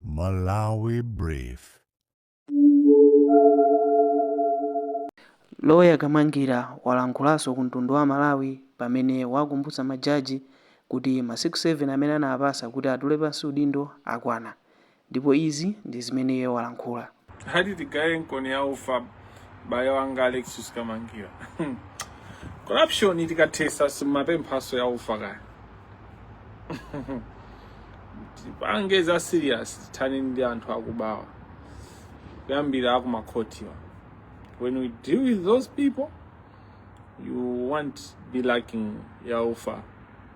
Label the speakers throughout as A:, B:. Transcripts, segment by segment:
A: Malawi
B: Brief. Loya Kamangila walankhulanso ku mtundu wa Amalawi pamene wakumbutsa majaji kuti masiku 7 amene anawapasa kuti atule pansi udindo akwana ndipo izi ndi zimene iye walankhula. hadi
C: tigayenkoni ya ufa bayo wanga Alexious Kamangila corruption tikathesa simapemphaso ya ufa kaya tipange za serious tithane ndi anthu akubawa kuyambira akumakhotiwa when we deal with those people you won't be lacking ya ufa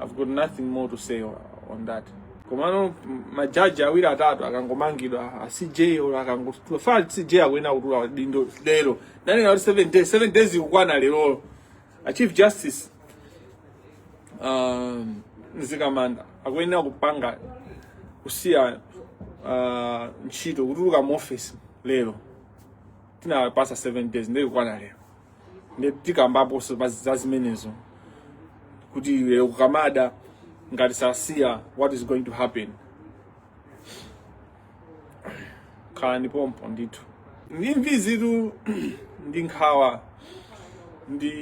C: I've got nothing more to say on that. Komano majaji awiri atatu akangomangidwa a CJ or akangotula a CJ akuyenera kutula udindo lero ndinanena 7 days 7 days ikukwana lero a chief justice um, Mzikamanda akuyenera kupanga kusiya uh, ntchito kutuluka mu office lero tinawapasa 7 days nde ikukwana lero ndi tikambaponso za zimenezo kuti lero kukamada ngati sasiya what is going to happen khalani pompo ndithu ndi imvizitu ndi nkhawa ndi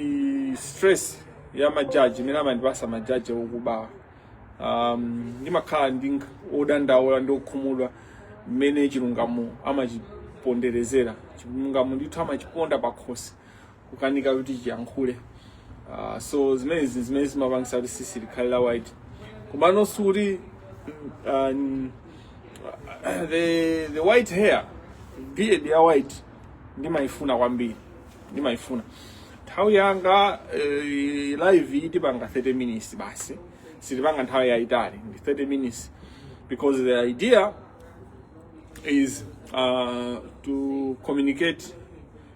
C: stress ya majaji imene amandipasa majaji okubawa um, ndimakhala ndi nkh- odandaula ndi okhumudwa mmene chilungamo amachiponderezera chilungamo ndithu amachiponda pakhosi kukanika kuti chiyankhule uh, so zimenezi zimene zimapangisa kuti sisi likhale la white komano sikuti um, the, the white hair beard ya white ndimayifuna kwambiri ndimayifuna nthawi yanga eh, live iyi tipanga 30 minutes basi sitipanga nthawi yayitali ndi 30 minutes because the idea is uh, to communicate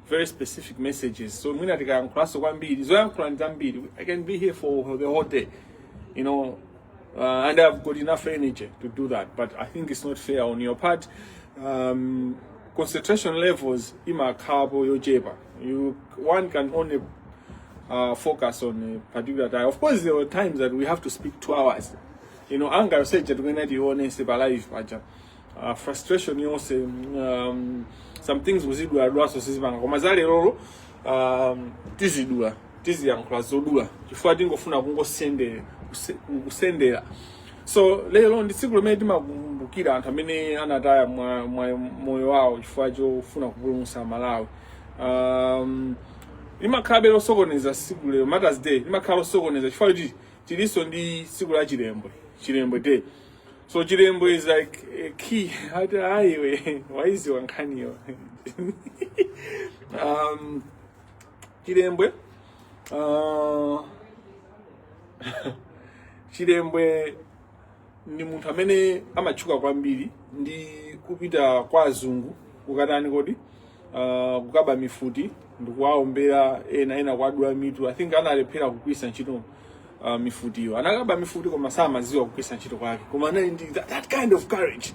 C: very specific messages so mwina tikayankhulanso kwambiri zoyankhula ndi zambiri i can be here for the whole day you know uh, and i've got enough energy to do that but i think it's not fair on your part um, concentration levels imakhapo yochepa You, one can only uh, focus on a particular time. Of course, there were times that we have to speak two hours. You know, anger yonse ija tikuyenera tiyionese pa live, uh, frustration yonse um, some things kuziduladulanso sizipanga koma za lerolo um, tizidula tiziyankhula zodula chifukwa tingofuna kungosendera kusendera so lero ndi tsiku limene timakumbukira anthu amene anataya mwa, mwa moyo wawo chifukwa chofuna kupulumutsa malawi um, limakhalabe losokoneza tsiku lero martyrs day limakhala losokoneza chifukwa choti tilinso ndi tsiku la chilembwe chilembwe day so chilembwe is like a key ati ayiwe waiziwa nkhaniyo um, chilembwe uh, chilembwe ndi munthu amene amatchuka kwambiri ndi kupita kwa azungu kukatani kodi uh, kukaba mifuti ndikuwaombera ena ena kuwadula mitu i think analephera kugwiritsa ntchito uh, mifutiyo anakaba mifuti koma samaziwa kugwiritsa ntchito kwake koma anali ndi that, that kind of courage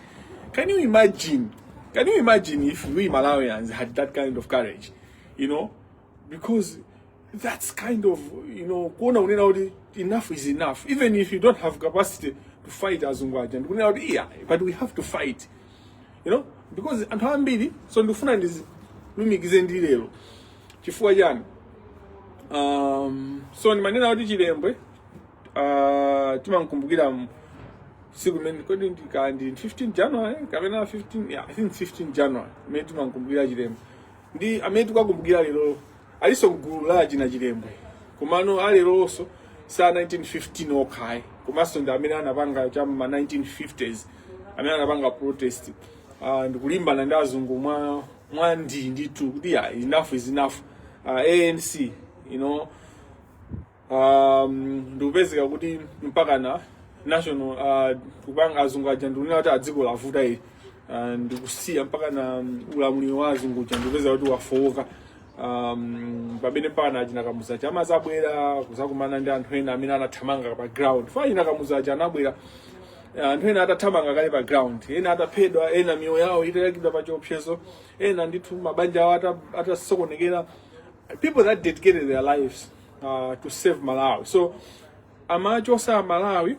C: can you imagine can you imagine if we malawians had that kind of courage you know because that's kind of you know kuona kunena kuti enough is enough even if you don't have capacity to fight azungu aja ndikunena kuti yeah but we have to fight you know because anthu ambiri so ndikufuna ndilumikize ndi lero chifukwa chani um, so ndimanena kuti chilembwe uh, timankumbukira m- siku limene kodi ndika ndi 15 january kapena 15 yeah, i think 15 january imene timankumbukira chilembwe ndi amene tikuwakumbukira lero alinso mgulu la achina chilembwe komano aleronso sa 1915 okha ayi komanso ndi amene anapanga cha ma 1950s amene anapanga protest uh, ndikulimbana ndi azungu mwa mwa ndi ndithu kuti ya enough is enough uh, anc you know um, ndikupezeka kuti mpakana national uh, kupanga azungu aja ndikunena kuti ah dziko lavuta ili uh, ndikusiya mpakana um, ulamuliro wa azungu uja ndikupezeka kuti wafowoka um, pamene mpakana achina kamuzu aja amazabwera kuzakumana ndi anthu ena amene anathamanga pa ground chifukwa achina kamuzu aja anabwera anthu ena atathamanga kale pa ground ena ataphedwa ena miyoyo yawo itayikidwa pa chiopsezo ena ndithu mabanja awo ata- atasokonekera people that dedicated their lives uh, to save malawi so amachosa amalawi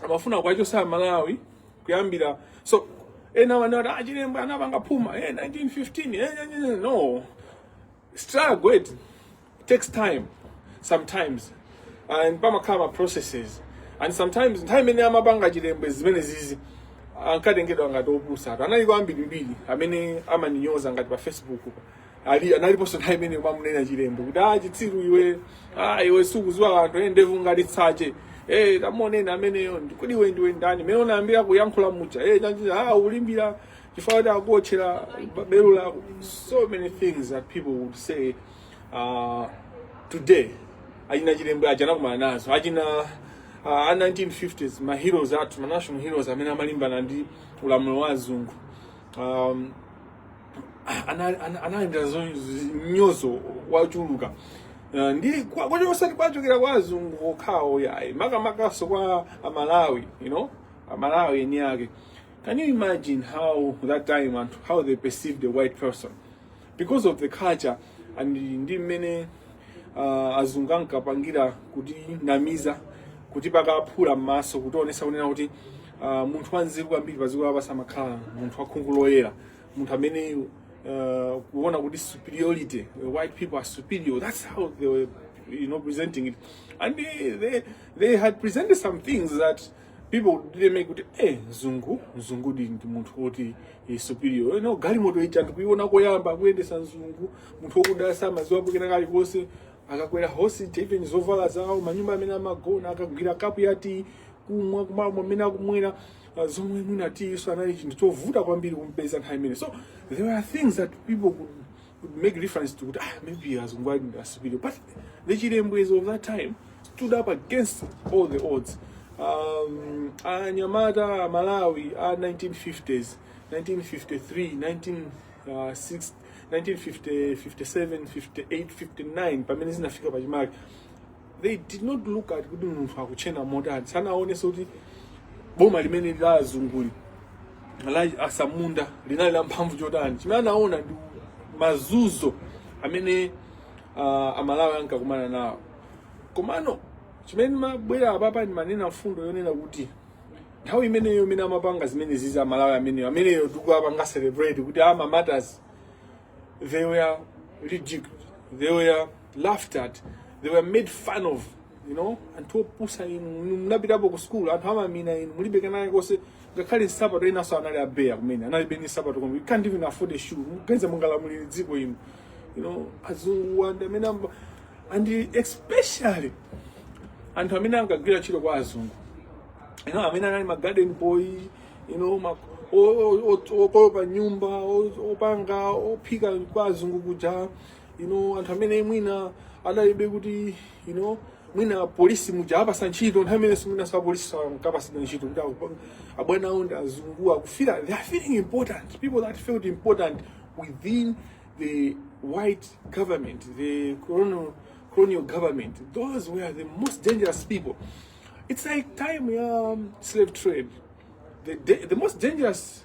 C: amafuna kuwachosa amalawi kuyambira so ena amati ah chilembwe anapanga phuma eh, 1915 eh, eh, eh, no struggle it takes time sometimes and pamakhala ma processes and sometimes nthawi imene amapanga chilembwe zimenezizi ankatengedwa ngati opusa anthu analiko ambirimbiri amene amamunyoza ngati pa facebook pa ali analiponso nthawi imene amamunena Chilembwe kuti ah chitsiru iwe ah iwe sukudziwa anthu endevu ngati tsache eh tamuoneni ameneyo ndi- kodi iwe ndiwe ndani mene unayambira kuyankhula mucha eh chanji ah ulimbira chifukwa kuti akuotchera bero lako so many things that people would say uh, today achina Chilembwe aja anakumana nazo achina uh, a 1950s ma heroes athu ma national heroes amene amalimbana ndi ulamuliro wa azungu um, analandira mnyozo wochuluka eh, ndi kocho osati kochokera kwa azungu okhawo yayi makamakanso kwa amalawi you know amalawi eni ake can you imagine how that time and how they perceived the white person because of the culture and ndi mmene uh, azungu ankapangira kutinamiza kuti paka phula m'maso kutionetsa kunena kuti uh, munthu wanzeru kwambiri padziko lapansi amakhala munthu wakhungu loyera munthu ameneyu uh, kuona kuti superiority uh, white people are superior that's how they were you know presenting it and they, they, they had presented some things that people did make kuti eh mzungu mzungu ndi ndi munthu woti eh, superior you know galimoto ija anthu kuiona koyamba akuyendetsa mzungu munthu wokuda samadziwa pokena kalikonse akakwera hosi, even zovala zawo manyumba amene amagona akagwira kapu ya tea kumwa kumalo amene akumwera uh, zomwe mwina tea-nso anali chinthu chovuta kwambiri kumpeza nthawi imene so there were things that people could, could make reference to kuti ah, maybe azungu alidi superior but the Chilembwes of that time stood up against all the odds um, anyamata a malawi a 1950s 1953 19, uh, 6, 1957 58 59 pamene zinafika pachimake they did not look at kuti munthu akutinena motani sanaonenso kuti boma limene la azunguli la asamunda linali la mphamvu chotani chimene anaona ndi mazunzo amene uh, amalawi ankakumana nawo komano chimene ndimabwera apapa ndimanena mfundo yonena kuti nthawi imeneyo imene amapanga zimenezizi amalawi ameneyo ameneyo tikuapanga celebrate kuti ama martyrs they were ridiculed they were laughed at they were made fun of you know anthu opusa inu munapitapo ku school anthu amamina inu mulibe kana yekonso ngakhale nsapato enanso anali a bare kumene analibe ni nsapato zomwe you can't even afford a shoe muganiza mungalamulire dziko inu you know azungu wa ndi amene amba and especially anthu amene ankagwira ntchito kwa azungu you know amene anali ma garden boy you know ma o- o- o- okolopa nyumba o- opanga ophika kwa azungu kuja you know anthu amene mwina adalibe kuti you know mwina polisi muja apasa ntchito nthawi imene simwina sa polisi sankapasidwa ntchito kuti aku- abwana awo ndi azungu akufira they are feeling important people that felt important within the white government the colonial, colonial government those were the most dangerous people it's like time ya um, slave trade the, da- the most dangerous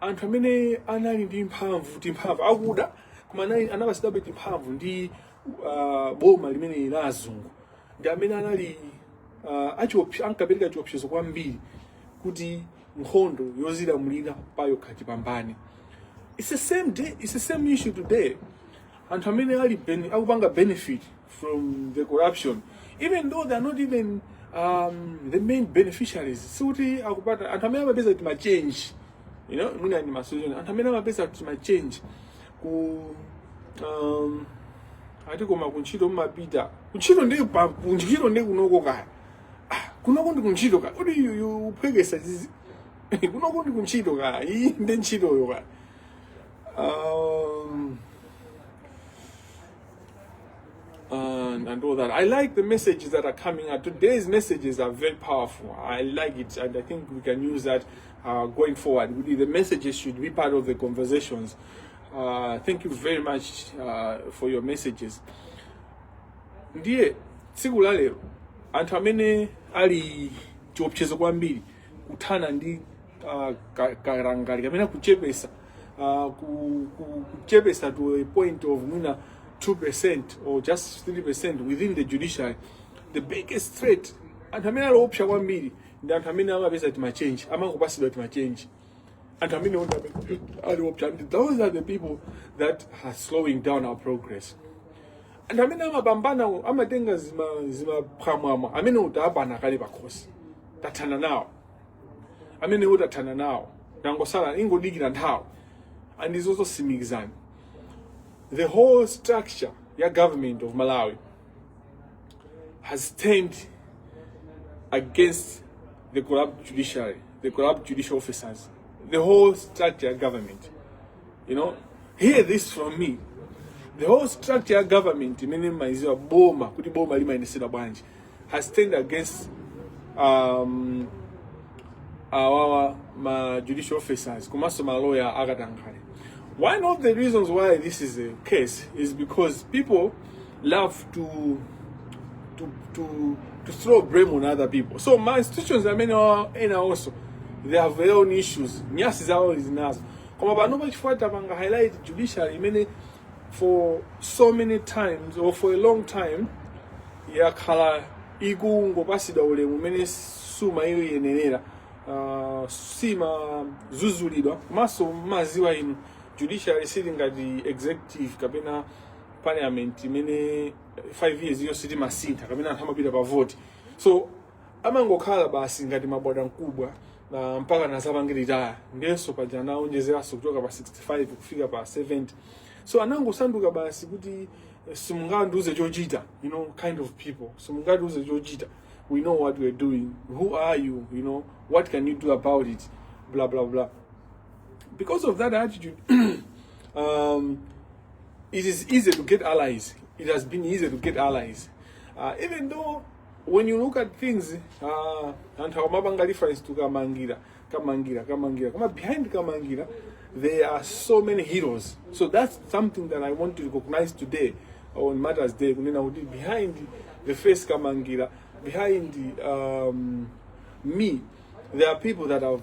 C: anthu amene anali ndi mphamvu timphamvu akuda koma anali anapasidabe timphamvu ndi uh, boma limene la azungu ndi amene anali uh, achiopse- ankapereka chiopsezo kwambiri kuti nkhondo yozilamulira payokha tipambane it's the same day it's the same issue today anthu amene ali bene- akupanga benefit from the corruption even though they are not even um, the main beneficiaries sikuti akupata anthu amene amapeza timachange you know mwina ndi masolution anthu amene amapeza timachange ku um, ati koma kuntchito mmapita kuntchito ndi pa- kuntchito ndi kunoko kaya Ah, kunoko ndi kuntchito kaya kodi yu- yu uphwekesa zizi kunoko ndi kuntchito kaya iyi ndi ntchitoyo kaya um, and, and all that. I like the messages that are coming out. Today's messages are very powerful. I like it, and I think we can use that uh, going forward. The messages should be part of the conversations. Uh, thank you very much uh, for your messages. Ndiye tsiku la lero anthu amene ali chiopsezo kwambiri kuthana ndi uh, karangali kamene kuchepesa uh, ku, ku, kuchepesa to a point of mwina 2% or just 3% within the judiciary the biggest threat anthu amene ali oopsa kwambiri ndi anthu amene amapeza timachenji amangopasidwa timachenji anthu amene onse amene ali oopsa and those are the people that are slowing down our progress anthu amene amapambana amatenga zima- zimaphwamwamwa amenewo tawapana kale pakhosi tathana nawo amenewo tathana nawo tangosala ingodikira nthawi and izo zosimikizani the whole structure ya government of malawi has turned against the corrupt judiciary the corrupt judicial officers the whole structure ya government you know hear this from me the whole structure ya government imene mmaiziwa boma kuti boma limayendetsedwa bwanji has turned against um, our ma judicial officers komanso ma lawyer akatankhale one of the reasons why this is the case is because people love to to to to throw blame on other people so ma institutions amene wa- ena also they have their own issues nyasi zawo zinazo koma panopa chifukwa tapanga highlight judiciary imene for so many times or for a long time yakhala ikungopasidwa ulemu umene sumayiyenerera uh, simazuzulidwa komanso mmaziwa inu judiciary siili ngati executive kapena parliament imene 5 years iliyonse timasintha kapena anthu amapita pa vote so amangokhala basi ngati mabwana mkubwa na mpakana azapange retire ndenso paja anaonjezeranso kuchoka pa 65 kufika pa 70 so anangosanduka basi kuti eh, simungandiuze chochita you know kind of people simungandiuze chochita we know what we're doing who are you you know what can you do about it blah blah blah because of that attitude um, it is easy to get allies it has been easy to get allies uh, even though when you look at things uh, anthu akumapanga reference to kamangira kamangira kamangira koma behind kamangira there are so many heroes so that's something that i want to recognize today on matters day kunena kuti behind the face kamangira behind um, me there are people that have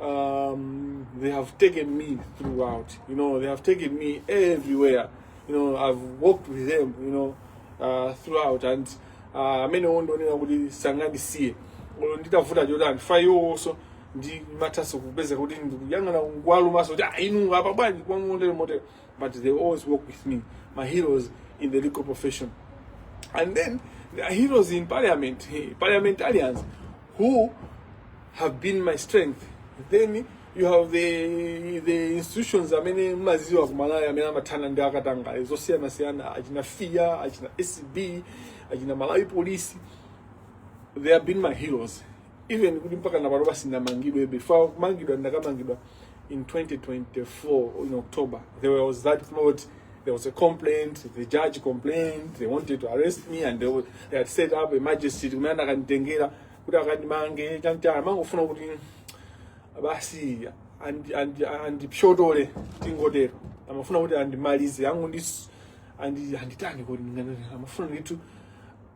C: um, they have taken me throughout. You know, they have taken me everywhere. You know, I've walked with them. You know, uh, throughout and uh, amene uh, ndikuona kuti sangandisiye olo nditavuta chotani chifukwa iwowonso ndimathanso kupezeka kuti ndikuyang'ana kuwalumanso kuti ah, inu apa bwanji kwamotero motero but they always walk with me, my heroes in the legal profession. And then there are heroes in parliament, parliamentarians, who have been my strength. Then you have the the institutions amene maziwa kumalaya amene amathana ndi akatangale zosiyanasiyana achina fia achina scb achina malawi police they have been my heroes even kuti mpaka napano nsanamangidwe before kumangidwa ndinakamangidwa in 2024 in october there was that plot there was a complaint the judge complained they wanted to arrest me and they, wa- they had set up a magistrate kumene anakanditengera kuti akandimange chantana amangofuna kuti basi andi- andi- andipyotole tingotero amafuna kuti andimalize angu ndi andi- anditani kuti ndinganene amafuna nditu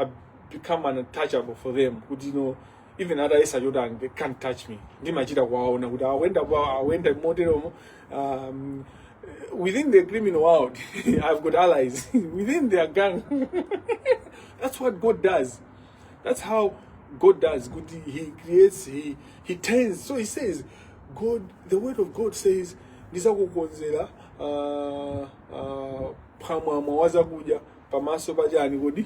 C: I've become untouchable for them kuti you know even atayesa chotani they can't touch me ndimachita kuwaona kuti awenda awenda moteromo um, within the criminal world i've got allies within their gang that's what god does that's how god does good he, he creates he, he turns so he says god the word of god says ndizakukonzera uh, uh, phamwamwa wazakudya pamaso pa chani kodi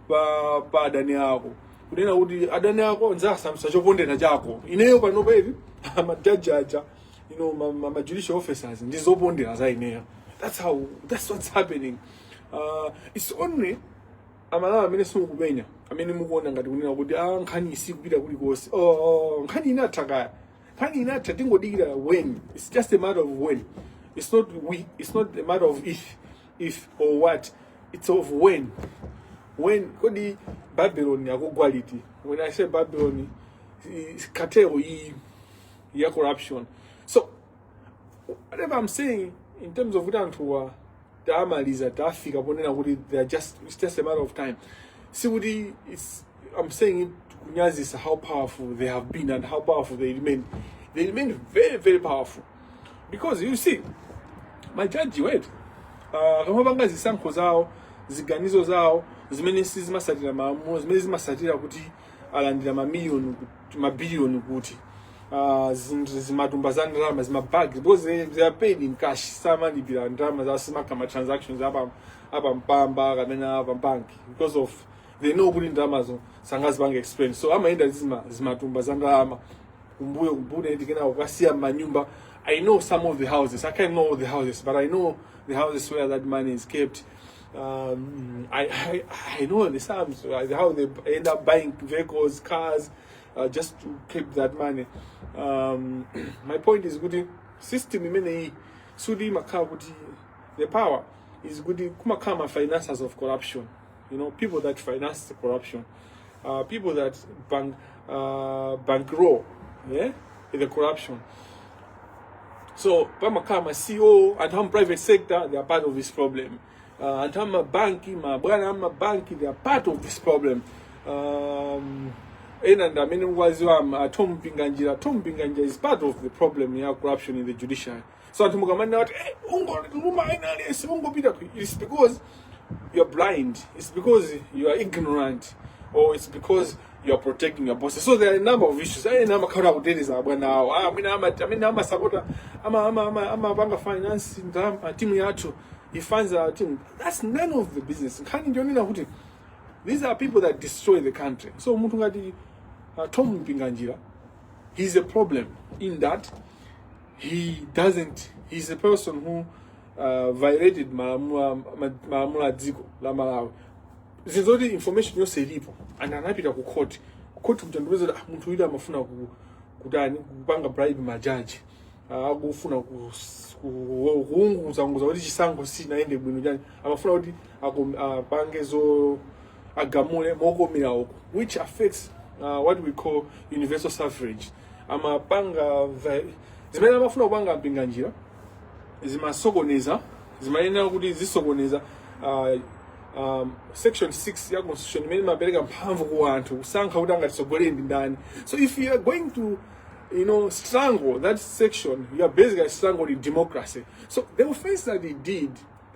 C: pa, pa adani ako kunena kuti adani ako ndzasandutsa chopondera chako ineyo panopa amajaji aja you know, ma, ma, ma judicial officers ndi zopondera za ineyo that's how that's what's happening uh, it's only amalawi amene simukupenya amene mukuona ngati kunena kuti a nkhani isikupita kulikonse ooh, nkhani inatha kale nkhani inatha tingodikira when it's just a matter of when it's not w- it's not a matter of if if or what it's of when when kodi babylon yakugwa liti when i say babylon is cartel iyi ya corruption so whatever i'm saying in terms of kuti anthuwa tamaliza tafika ponena kuti they are just it's just a matter of time sikuti it's i'm saying it kunyazisa how powerful they have been and how powerful they remain they remain very very powerful because you see majajiwatu uh, akamapanga zisankho zawo ziganizo zawo zimene sizimatsatira malamulo zimene zimatsatira kuti alandira mamiliyoni kuti- mabiliyoni kuti uh, zimatumba za ndalama zimabagi because they, they are paid in cash samalipira ndalama za mmakhala ma transactions a pa a pa mpamba kapena a pa banki because of they know kuti ndalamazo sangazipange explain so amayenda zima zimatumba za ndalama kumbuyo kubuda eti kena ukasiya manyumba i know some of the houses i can't know all the houses but i know the houses where that money is kept um, I, I, I know the sums like how they end up buying vehicles cars uh, just to keep that money um, my point is kuti system imeneyi sudi imakhala kuti the power is kuti kumakhala ma finances of corruption you know, people that finance the corruption, uh, people that bank, uh, bankroll yeah, the corruption. So, pamakhala ma CEO, anthu am private sector, they are part of this problem. Uh, anthu am mabanki, mabwana am mabanki, they are part of this problem. Um, ena ndi amene waziwa atompinganjira atompinganjira is part of the problem ya corruption in the judiciary so anthu mukamanena kuti hey, ungoluma ena aliyense ungopita ku it's because you're blind it's because you are ignorant or it's because you are protecting your bosses so there are a number of issues ena amakhala akuteteza abwana awo Ah, amene ama- amene amasapota ama- ama- ama- amapanga finance ndalama timu yathu he funds our team that's none of the business nkhani ndiyonena kuti these are people that destroy the country so munthu ngati uh, tom mpinganjira he's a problem in that he doesn't he's a person who uh, violated malamulo ma- malamulo a dziko la malawi zinthu zoti information yonse ilipo and anapita ku court ku court kukampeza kuti ah, munthu uyu amafuna ku, kutani kupanga bribe majaji Ah, akufuna kus- ku- kuunguza unguza kuti chisankho sichinayende bwino chani amafuna kuti akom- apange zo agamule mokomera uko which affects uh, what we call universal suffrage amapanga vi- zimene amafuna kupanga a mpinganjira zimasokoneza zimayenera kuti zisokoneze uh, um, section 6 ya constitution imene imapereka mphamvu ku anthu kusankha kuti angatitsogolere ndi ndani so if you are going to you know strangle that section you are basically strangling democracy so the offense that he did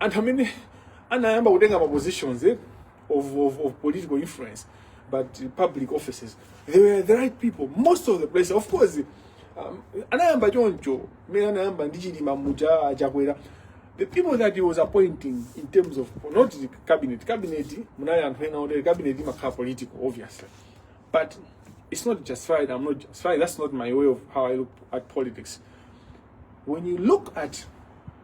C: anthu amene anayamba kutenga ma positions eh, of, of, of political influence but uh, public offices they were the right people most of the places of course um, anayamba choncho mmene anayamba ndi chilima muja a Chakwera the people that he was appointing in terms of not the cabinet cabinet munali anthu ena otere cabinet imakhala political obviously but it's not justified i'm not justified that's not my way of how i look at politics when you look at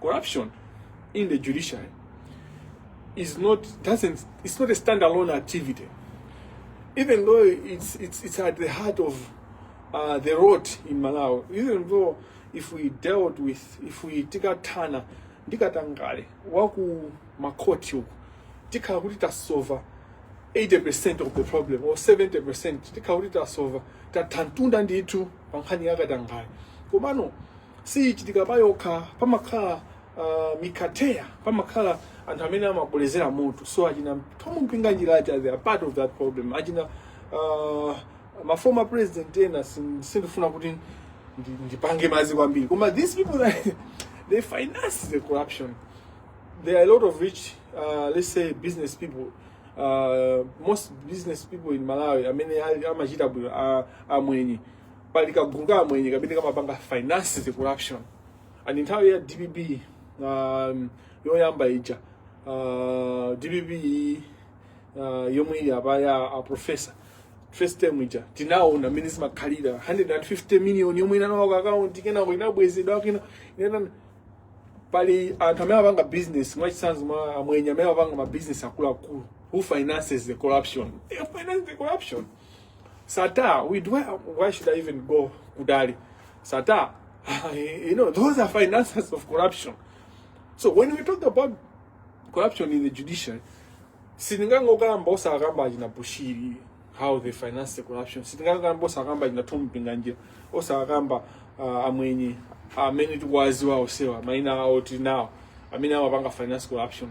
C: Corruption in the judiciary is not doesn't it's not a standalone activity. Even though it's it's it's at the heart of uh, the road in Malawi. Even though if we dealt with if we tikatana ndikatangale waku makoti uku tikhala kuti tasova 80% of the problem or 70% tikhala kuti tasova tathantunda ndithu pa nkhani yakatangale komano siyichitika pa yokha pamakhala uh, mikateya pamakhala anthu amene amakolezera moto so achina Thom Mpinganjira aja they are part of that problem achina uh, ma former president ena sin- sindifuna kuti ndi- ndipange mazi kwambiri koma these people that they finance the corruption there are a lot of rich, uh, let's say, business people. Uh, most business people in Malawi, I mean, amachita bwino, a- amwenye. pali kagulu ka amwenye kamene kamapanga finance corruption and nthawi ya dpp um, yoyamba ija uh, dpp uh, yomwe ili apa ya a professor first term ija tinaona mmene zimakhalira 150 million yomwe inalowa ku akaunti kenako inabwezedwa kena inana pali anthu amene apanga business mwachitsanzo mwa amwenye amene apanga ma business akuluakulu who finances the corruption they finance the corruption Sattar, we do. Why should I even go kutali? Sattar, you know, those are financiers of corruption. So when we talk about corruption in the judiciary, sitingangokamba osakamba achina Bushiri how they finance the corruption. Sitingangokamba osakamba achina Thom Mpinganjira, osakamba uh, amwenye amene tikuwaziwa onsewa maina awo tinawo amene amapanga finance corruption.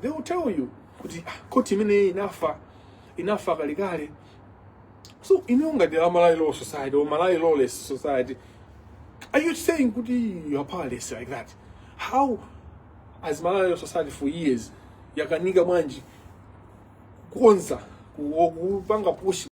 C: they will tell you kuti ah, koti imeneyi inafa inafa kalekale so inuyo ngati malawi law society or malawi lawless society are you saying kuti you are powerless like that how as malawi law society for years yakanika bwanji kukonza ku- kupanga push